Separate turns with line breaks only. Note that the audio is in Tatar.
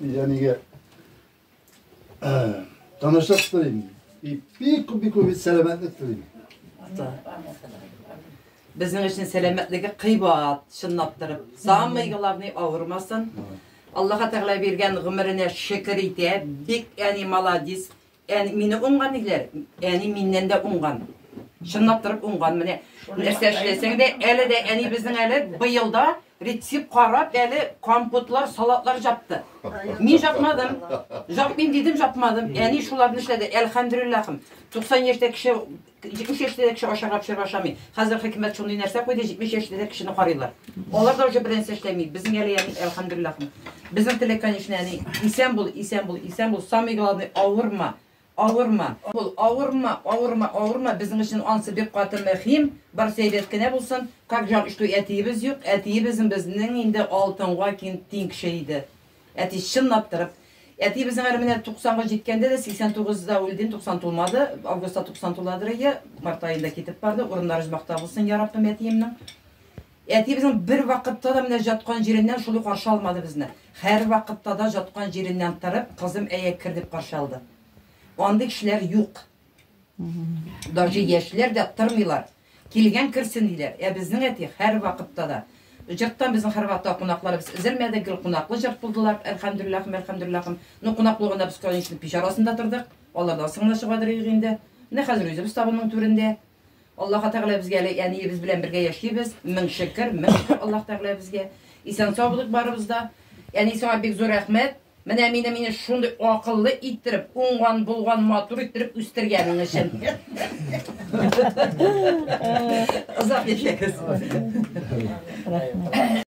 Янигә танышлык телим. И бик күп бик күп сәламәтлек телим.
Безнең өчен сәламәтлеге кыйбат, чынлап торып. Самый главный авырмасын. Аллаһ Тәгалә биргән гомеренә шөкер итә. Бик әни молодец. Әни мине уңган диләр. Әни миннән дә уңган. Чынлап торып уңган менә. Нәрсә эшләсәң дә, әле дә әни безнең әле быелда рецепт карап, әле компотлар, салатлар жапты. Мин жапмадым. Жапмыйм дидем, жапмадым. Әни шуларны эшләде. Әлхәмдүлиллахым. 90 яшьтә кеше 70 яшьтә дә кеше ашарга пешереп ашамый. Хәзер хөкүмәт шундый нәрсә куйды, 70 яшьтә дә кешене карыйлар. Алар да уже беренче эшләми. Безнең әле яни әлхамдулиллах. Безнең теләк, конечно, яни исән бул, исән бул, исән бул. Самый главный авырма. Авырма. Бул, авырма, авырма, авырма. Безнең өчен ансы бик каты мөһим. Барысы әйбәт кенә булсын. Как жаль, что әтиебез юк. Әтиебез безнең инде алтынга кин тиң кеше иде. Әти, чынлап торып. Әтиебезнең әле менә 90-га җиткәндә дә, 89 да үлде, 90 тулмады, августта 90 туладыр ие, март аенда китеп барды, урыннары җмакта булсын, я Раббым, әтиемнең. Әтиебезнең бер вакытта да менә җаткан җиреннән шулай каршы алмады безне. Хәр вакытта да җаткан җиреннән торып, кызым әйе кер дип каршы алды. Андый кешеләр юк. Даже яшьләр дә тырмыйлар. Килгән керсен диләр. Ә безнең әти һәр вакытта да җырттан безнең һәрвакытта кунакларыбыз өзелмәде, гел кунаклы җырт булдылар. Әлхәмдүлилләхим, әлхәмдүлилләхим. Ну, кунаклы булганда без конечный пич арасында тордык. Алардан соң гына чыга дөрек инде. Менә хәзер үзебез табынның түрендә. Аллаһ Тәгалә безгә әле әниебез белән бергә яшибез. Мең шөкер, мең шөкер Аллаһ Тәгалә безгә. Исән сау булыйк барыбыз да. Әни, сиңа бик зур рәхмәт. Менә мине мине шундый акыллы иттереп, уңган, булган, матур иттереп үстергәнең өчен. Озак яшәгез.